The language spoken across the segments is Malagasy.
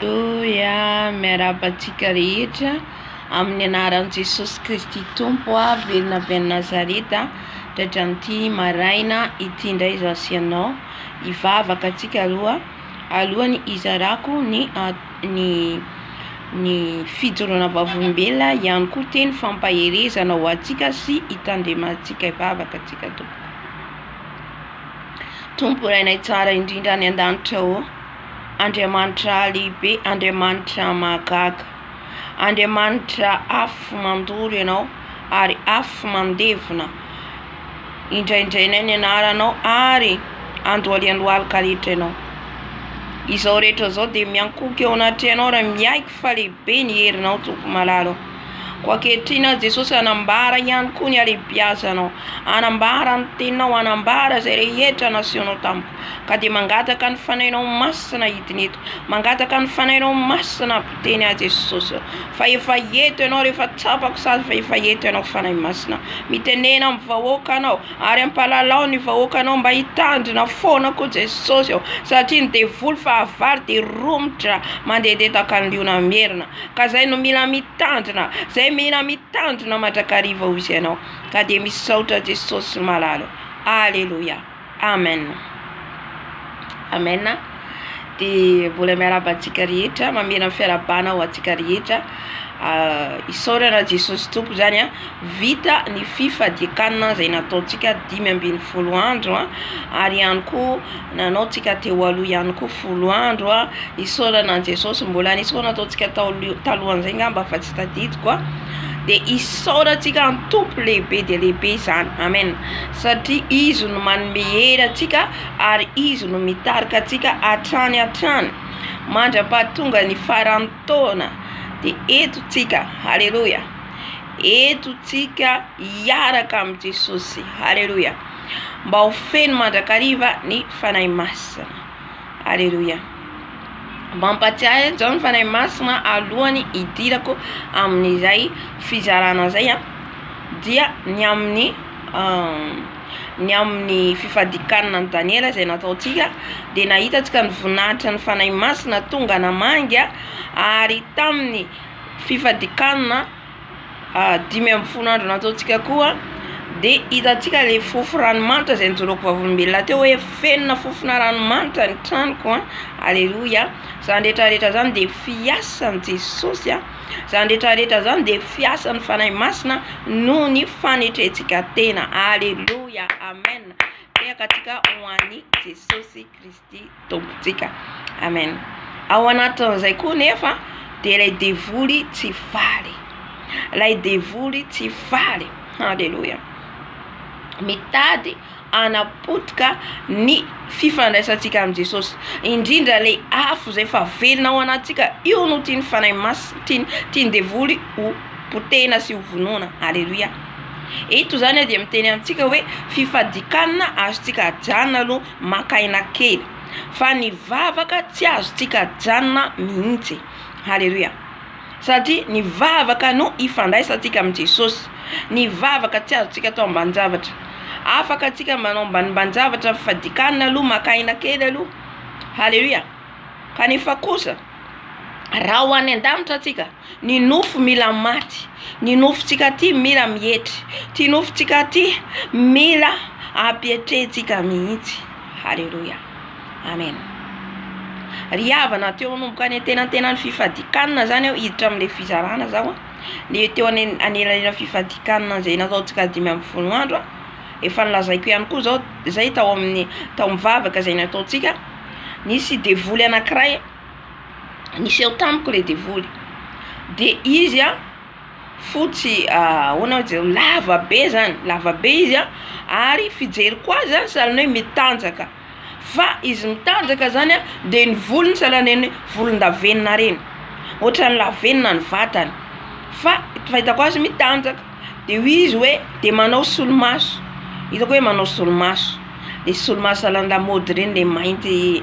Aleloia, miarahaba antsika rehetra amin'ny anaran'i Jesosy Kristy Tompo a, velona avy any Nazareta, dradran'ity maraina ity indray izaho sy ianao, hivavaka antsika roa alohan'ny hizarako ny ny ny fijoroana vavolombelona ihany koa teny fampaherezana ho antsika sy hitandremantsika hivavaka antsika Tompo. Tompo Rainay tsara indrindra any an-danitra ô. Andriamanitra lehibe, Andriamanitra mahagaga, Andriamanitra afo mandoro Ianao ary afo mandevona, indraindrainay ny anaranao ary andohalian'ny lohalika rehetra Ianao. Izao rehetra izao dia miankohoka eo anatrehanao ary miaiky fa lehibe ny herinao Tompo malala ô. Koa ankehitriny aza Jesosy hanambara ihany koa ny halehibiazanao, hanambara ny teninao, hanambara izay rehetra nasehonao tamiko. Ka dia mangataka ny Fanahinao Masina hidina eto. Mangataka ny Fanahinao Masina hampiteny ahy Jesosy. Fa efa eto Ianao, rehefa tsapako sady fa efa eto Ianao Fanahy Masina. Mitenena amin'ny vahoaka Anao ary ampalalao ny vahoakanao mba hitandrina foana koa Jesosy ô. Satria ny devoly fahavalo dia romotra mandedeta ka liona merina. Ka izay no mila mitandrina, izay mila mitandrina mandrakariva hoy Ianao. Ka dia misaotra Jesosy malala ô. Aleloia. Amen Amen de mbola miarahaba antsika rehetra mamela ny fiarabana ho antsika rehetra isaorana Jesosy Tompo zany a vita ny fifadiakanina zay nataontsika dimy ambin'ny folo andro a ary ihany koa nanaontsika teo aloha ihany koa folo andro a isaorana an'i Jesosy mbola nisy koa nataontsika taolo- talohan'izay ngamba fa tsy tadidiko a de isaorantsika ny Tompo lehibe dia lehibe izany amen satria Izy no manome hery antsika ary Izy no mitarika antsika hatrany hatrany mandra-pahatonga ny faran'ny taona dia eto tsika haleloia eto tsika hiaraka amin'i Jesosy haleloia mba ho feno mandrakariva ny Fanahy Masina haleloia mampatsiahy izao ny Fanahy Masina alohany hidirako amin'izay fizarana izay dia ny amin'ny ny amin'ny fifadikanana an'i Daniela izay nataontsika dia nahitantsika ny voninahitra ny Fanahy Masina tonga namangy ary tamin'ny fifadikanana dimy ambin'ny folo andro nataontsika koa dia hitantsika ilay fofo ranomanitra izay nijoroako vavolombelona teo hoe fenona fofona ranomanitra ny tranoko a, aleloia, izany rehetra rehetra izany dia fiasan'i Jesosy a. Izany rehetra rehetra izany dia fiasan'ny Fanahy Masina noho ny fanetrentsika tena. Aleloia, amen. Tehaka antsika ho an'i Jesosy Kristy Tompontsika. Amen. Ao anatin'izay koa nefa dia ilay devoly tsy faly. Ilay devoly tsy faly. Aleloia. Mitady hanapotika ny fifandraisantsika amin'i Jesosy, indrindra ilay afo izay efa velona ao anatintsika, io no tian'ny Fanahy Masina, tiany, tian'ny devoly ho potehina sy ho vonoina. Aleloia. Eto izany dia miteny amintsika hoe fifadikanana azontsika ajanona aloha maka aina kely, fa ny vavaka tsy azontsika ajanona mihitsy. Aleloia. Satria ny vavaka no ifandraisantsika amin'i Jesosy. Ny vavaka tsy azontsika atao ambanin-javatra. Afaka antsika manao ambanimbanin-javatra ny fadikanina aloha, maka aina kely aloha. Haleloia! Kanefa kosa, raha ho any an-danitra antsika, ny nofo mila maty, ny nofontsika aty mila mietry, ity nofontsika ity mila ampietrehintsika mihitsy. Haleloia! Amen. Ry havana teo manomboka any antenantenan'ny fifadikanana zany aho hiditra amin'ilay fizarana zaho a, le teo anelanelan'ny fifadikanana izay nataontsika dimy ambin'ny folo andro a, efa nolazaiko ihany koa zao zay tao amin'ny tao amin'ny vavaka izay nataontsika, nisy devoly anankiray niseho tamiko le devoly, de izy a fotsy ahoana oe jereo lava be zany lava be izy a ary fijeriko azy zany zany hoe mitanjaka. Fa izy mitanjaka zany a de ny volony sahala neny volondavenona reny otrany lavenona ny vatany fa fahitako azy mitanjaka de hoy izy oe de manao solomaso itako oe manao solomaso de solomaso à la lamaody reny le mainty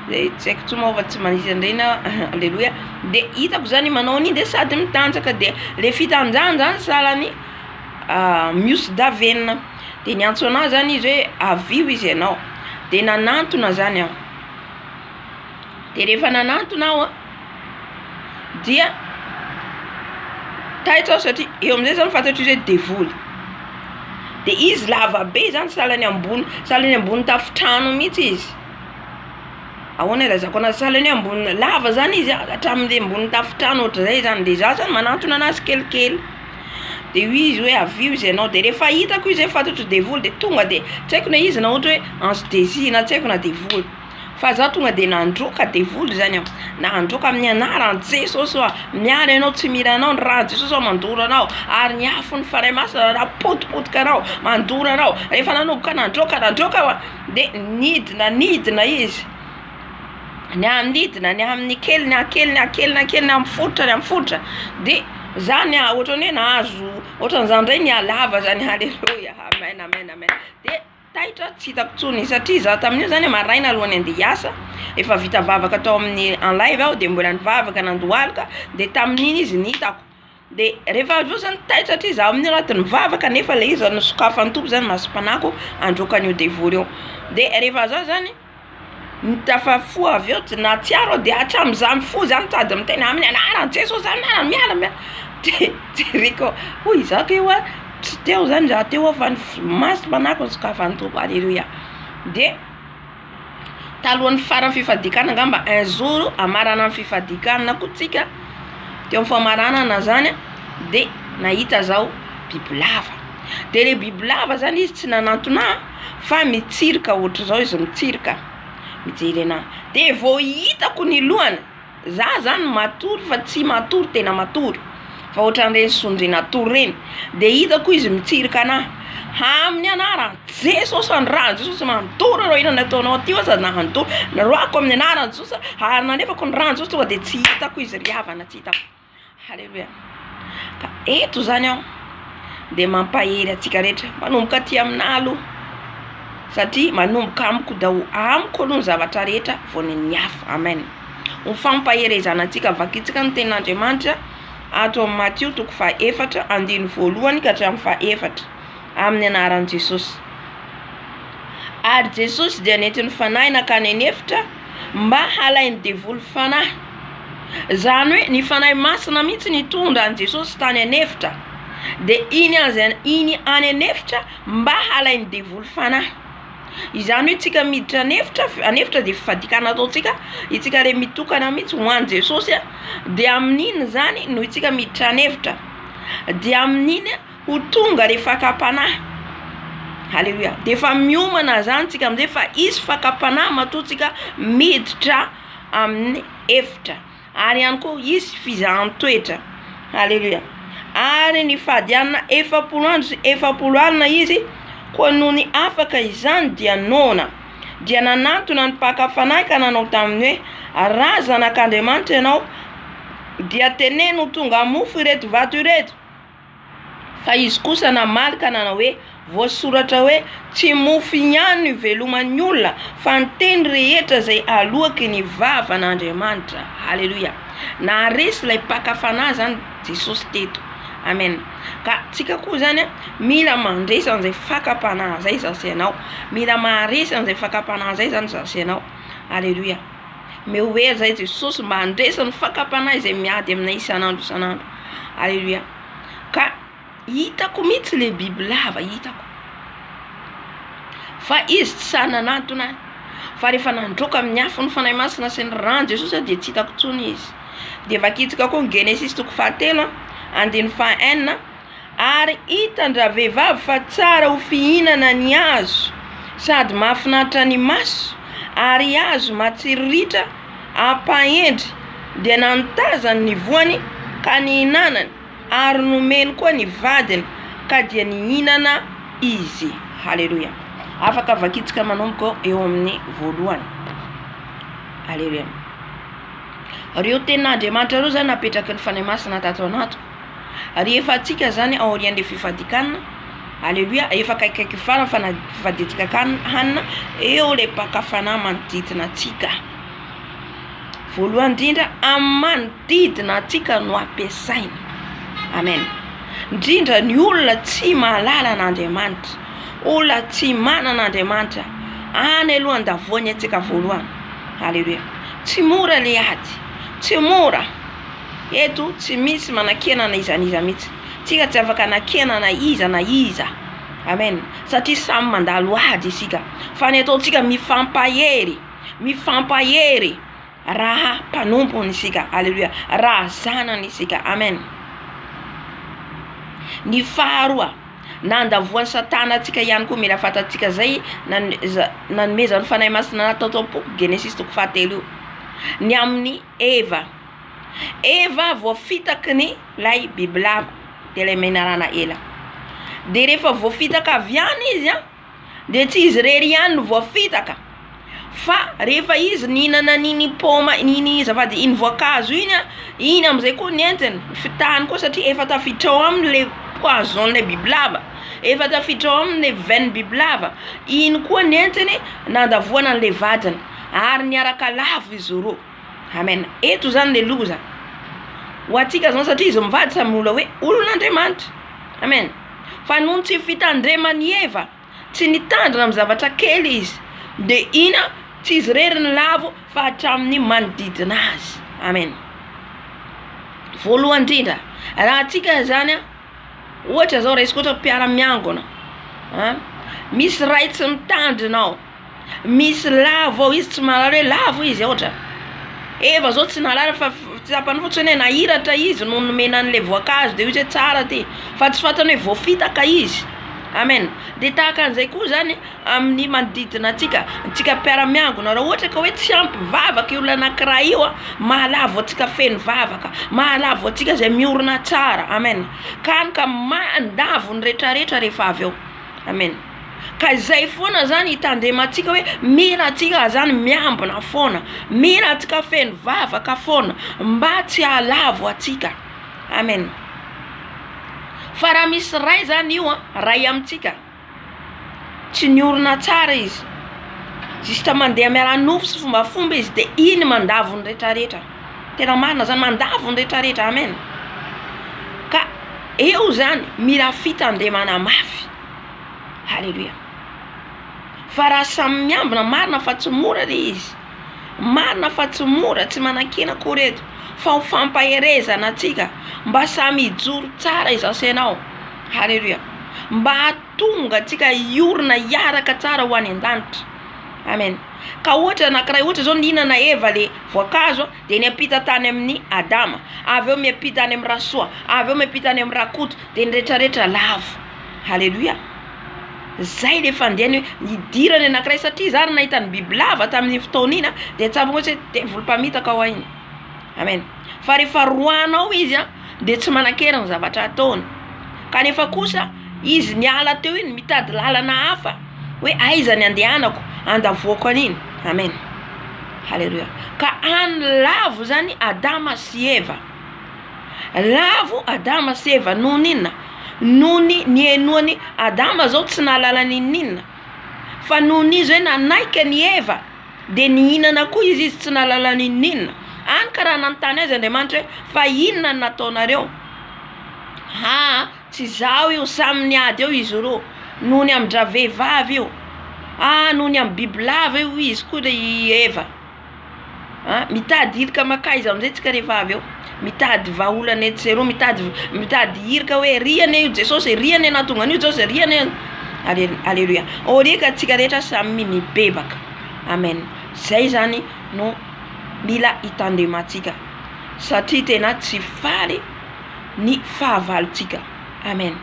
le tsy aiko tsony moa fa tsy manisy anreny ah aleloia de itako zany manao an'igny de sady mitanjaka de le fitanjahany zany sahala ny mihosi-davenona. de niantso anah zany izy hoe avio izy ianao de nanantona zany aho, de rehefa nanantona aho a dia taitra aho satria eo amizay zah fantatro izy hoe devoly, de izy lava be zany sahala ny ambony sahala ny ambony tafontrano mihitsy izy, ahoana ilazako an'azy sahala ny hoe ambony lava zany izy a hatramin'ny ambony tafontrano ohatran'izay zany de zah zany manantona an'azy kelikely. de hoy izy hoe avio izy ianao de rehefa hitako izy hoe fatatro devoly de tonga de tsy haiko na izy na ohatra hoe ange de Dieu na tsy haiko na devoly fa za tonga de nandroaka devoly zany aho na handroaka amin'ny anaran'i Jesosy hoa miala ianao tsy mila anao ny ran'i Jesosy hoa mandoro anao ary ny afon'ny Fanahy Masina raha potipotika anao mandoro anao rehefa nanomboka nandroaka nandroaka hoa de nidina nidina izy ny hanidina ny amin'ny kely ny ankely ny ankely ny ankely ny amin'ny fotitra ny amin'ny fotitra de zany a ohatrany hoe nahazo ohatrany zany ndray ny halava zany aleloia amen amen amen de taitra tsy hitako tsony satria za tamin'io zany maraina alohan'ny ande hiasa efa vita vavaka tao amin'ny en live aho de mbola nivavaka nandohalika de tamin'iny izy ny hitako Dia rehefa avy eo zany taitra hatria za amin'io anaty ny vava kanefa le izy zany nosokafan'ny Tompo zany masom-panahiko handroaka an'io devoly io de rehefa za zany no tafafo avy eo nahatsiaro aho de hatramin'iza mifoha za mitady miteny amin'ny anaran'i Jesosy zany miala miala miala de jereko hoy iza kay hoa tsy teo zany za teo hoa fa ny masom-panahiko nosokafan'ny Tompo aleloia de. talohan'ny faran'ny fifadiakana angamba un jour hamarana ny fifadiakana koa tsika teo amin'ny famaranana zany de nahita zao bibilava de le bibilava zany izy tsy nanantona ahy fa mitsirika ohatr'izao izy mitsirika mijery anahy de vao hitako ny lohany Za zany matory fa tsy matory tena matory fa otran'ireny sondrin'atory reny de hitako izy mitsirika anah, aminy anaran'i Jesosy andrany Jesosy matory anao inona no ataonao aty oa za matory, roahako aminy anaran'i Jesosy ary nalefako ny rano Jesosy tonga de tsy hitako izy ry havana tsy hitako. Haleloia. Ka eto izany aho dia mampahery antsika rehetra, manomboka aty aminà aloha, satria manomboka amiko daholo, amiko aloha ny zavatra rehetra vao ny an'ny hafa. Amen. Ho fampaherezana antsika, vakintsika ny tenin'Andriamanitra ato amin'ny Matio toko fahefatra andininy voalohany ka hatramin'ny fahefatra amin'ny anaran'i Jesosy. Ary Jesosy dia nentin'ny Fanahy nankany an'efitra mba halain'ny devoly fanahy. Izany hoe ny fanahy masina mihitsy nitondra an'i Jesosy tany an'efitra dia iny aza iny any an'efitra mba halain'ny devoly fanahy. Izany hoe isika miditra an'efitra an'efitra dia fadiakana ataontsika isika re mitokana mihitsy ho an'i Jesosy dia amin'iny izany no isika miditra an'efitra dia amin'iny Ho tonga le fakam-panahy. Haleloia. Dia efa miomana zany tsika amzay fa hisy fakam-panahy matoa tsika miditra amin'ny efitra. Ary ihany koa hisy fizahan-toetra. Haleloia. Ary ny fahadianana efapolo andro sy efapolo alina izy koa nony afaka izany dia noana. Dia nanantona ny mpaka fanahy ka nanao taminy hoe, Raha zanak'Andriamanitra ianao dia teneno ho tonga mofo ireto vato ireto. Fa izy kosa namaly ka nanao hoe, Voasoratra hoe, Tsy mofo ihany no iveloman'ny olona, fa ny teny rehetra izay aloaky ny vavan'Andriamanitra. Haleloia! Naharesy ilay mpaka fanahy izany Jesosy teto. Amena. Ka tsika koa izany a, mila mandresy an'izay fakam-panahy izay izaho sy ianao. Mila maharesy an'izay fakam-panahy izay izany izaho sy ianao. Haleloia! Omeo hery izay Jesosy mba handresy ny fakam-panahy izay miady aminay isan'andro isan'andro. Aleloia. Ka hitako mihitsy le biby lava hitako. Fa izy tsy sahy nanantona ahy. Fa rehefa nandroaka amin'ny afo ny Fanahy Masina sy ny ràn'i Jesosy aho dia tsy hitako intsony izy. Dia vakintsika koa ny Genesisy toko fahatelo andininy faha enina. ary hitan-dravehivavy fa tsara ho fihinana ny hazo sady mahafinaritra ny maso ary hazo matsiriritra hampahendry dia nanotazany ny voany ka nihinanany ary nomeny koa ny vadiny ka dia nihinana izy haleloia afaka vakintsika manomboka eo amin'ny voalohany haleloia reo tenin'Andriamanitra reo zany napetraky ny Fanahy Masina tato anaty Ary efa antsika izany aorian'ilay fifadikanana, Aleloia, efa akaikikaiky ny farany fa na fifadiantsika akany hanina, eo ilay mpaka fanahy manodidina antsika. Voalohany indrindra amin'ny manodidina antsika no ampiasaina. Amen. Indrindra ny olona tsy mahalala an'Andriamanitra, olona tsy manana Andriamanitra any aloha andavoany antsika voalohany. Aleloia. Tsy mora ilay ady, tsy mora. Eto tsy misy manakena na iza na iza mihitsy. Tsika tsy afaka anakena na iza na iza. Amen. Satria samy mandalo ady isika. Fa ny ataontsika mifampahery, mifampahery raha mpanompony isika. Aleloia. Raha zanany isika. Amen. Ny faharoa, na andavoan'i Satana antsika ihany koa mila fantatsika izay nanomezan'ny Fanahy Masina natao tao am-poko, Genesisy toko fahatelo io. Ny amin'ny Eva. Eva voafitaky ny ilay bibilava, dia ilay menarana ela. Dia rehefa voafitaka avy any izy an, dia tsy izy irery ihany no voafitaka, fa rehefa izy nihinana an'iny paoma, iny zava- iny voankazo iny an, iny amin'izay koa nentiny, fitahany koa satria efa tafiditra ao aminy ilay poison-n'ilay bibilava, efa tafiditra ao aminy ilay veine bibilava, iny koa nentiny nandavoana an'ilay vadiny. ary miaraka lavo izy roa amen eto zany le loza ho antsika zao satria izy mivady samy mbola hoe olon'Andriamanitra amen fa noho ny tsy fitandreman'i Eva tsy nitandrina amin'ny zavatra kely izy de ina tsy izy rery ny lavo fa hatramin'ny manodidina azy amen voalohany indrindra raha antsika zany a ohatra zao raisiko ohatra mpiara-miangona a misy ray tsy mitandrina ao Misy lavo ao izy tsy mahalala hoe lavo izy ao otrany Eva zao tsy nahalala fa tsapany fotsiny hoe nahiratra izy no nomena anle voankazo de ozy hoe tsara ty fa tsy fantany hoe voafitaka izy amen de tahaka anzay koa zany aminy manodidina antsika antsika mpiara miangona ra oatra ka oe tsy ampy vavaka io olona anakiray io a mahalavo antsika feno vavaka mahalavo antsika zay miorina tsara amen ka any ka mandavo ny retraretra refa avy eo amen. ka izay foana zany hitandremantsika hoe mila antsika zany miambina foana mila antsika feno vavaka foana mba tsy hahalavo antsika amena fa raha misy ray zany io a ray amintsika tsy ny orina tsara izy zista mandeha miala nofo sy fombafomba izy de iny mandavo ny retraretra tena marina zany mandavo ny retraretra amena ka eo zany mila fitandremana mafy Haleloia. Fa raha samy miambina, marina fa tsy mora le izy, marina fa tsy mora, tsy manakiana akory eto, fa ho fampaherezana antsika mba samy hijoro tsara izaho sy ianao, haleloia, mba hahatonga antsika hiorina hiaraka tsara ho any an-danitra, amen. Ka ohatra anankiray, ohatra izao nihinana Eva le voankazo dia niampita tany amin'ny Adama, avy eo miampita any amin'ny Rasoa, avy eo miampita any amin'ny Rakoto, dia ny rehetrarehetra lavo. Aleloia. Zay ilay fandehany hoe nidirany anankiray satria izaho ary nahita ny bibilava tamin'iny fotoana iny dia tsapako hoe devoly mpamitaka ao iny. Amen. Fa rehefa roahina ao izy dia tsy manan-kery ny zavatra ataony. Kanefa kosa izy niala teo iny mitady lalana hafa hoe aiza ny andehanako andavoako an'iny. Amen. Aleloia. Ka any lavo izany Adama sy Eva. Lavo Adama sy Eva noho ny inona? Noho ny nihenoany Adama zao tsy nahalala ny inona inona fa noho ny izy hoe nanaiky an'i Eva de nihinana koa izy izy tsy nahalala ny inona inona, any ka raha nanontany azy Andriamanitra hoe fa inona no nataonareo? Ha tsy izaho io samy niady eo izy roa noho ny amin-dravehivavy io, ha noho ny amin'ny bibilava io izy koa i Eva. a mitady hirika makaiza amizay tsika rehefa avy eo mitady vahaolana etsy sy eroa mitady mitady hirika hoe ry anie io jesosy e ry anie nahatonga an'io jesosy e ry anie Ale- aleloia au lieu ka antsika rehetra samy mibebaka amen zay zany no mila hitandremantsika satria tena tsy faly ny fahavalontsika amen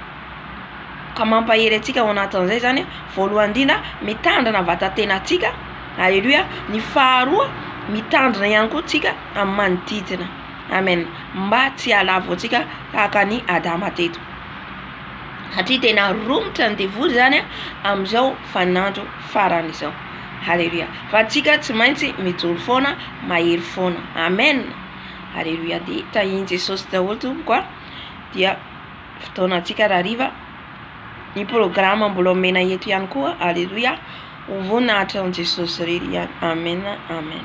Ka mampahery antsika ao anatin'izay izany, voalohany indrindra, mitandrina vatan-tenantsika. Aleloia. Ny faharoa, mitandrina ihany koa tsika amin'ny manodidina. Amen. Mba tsy halavo antsika tahaka ny Adama teto. Satria tena romotra ny devoly izany amin'izao vaninandro farany izao. Aleloia. Fa tsika tsy maintsy mijoro foana, mahery foana. Amen. Aleloia. Dia tahian'i Jesosy daholo tompoko a. Dia fotoana antsika rahariva ny programa mbola omena eto ihany koa aleloia ho voninahitry an'i jesosy irery ihany amen amen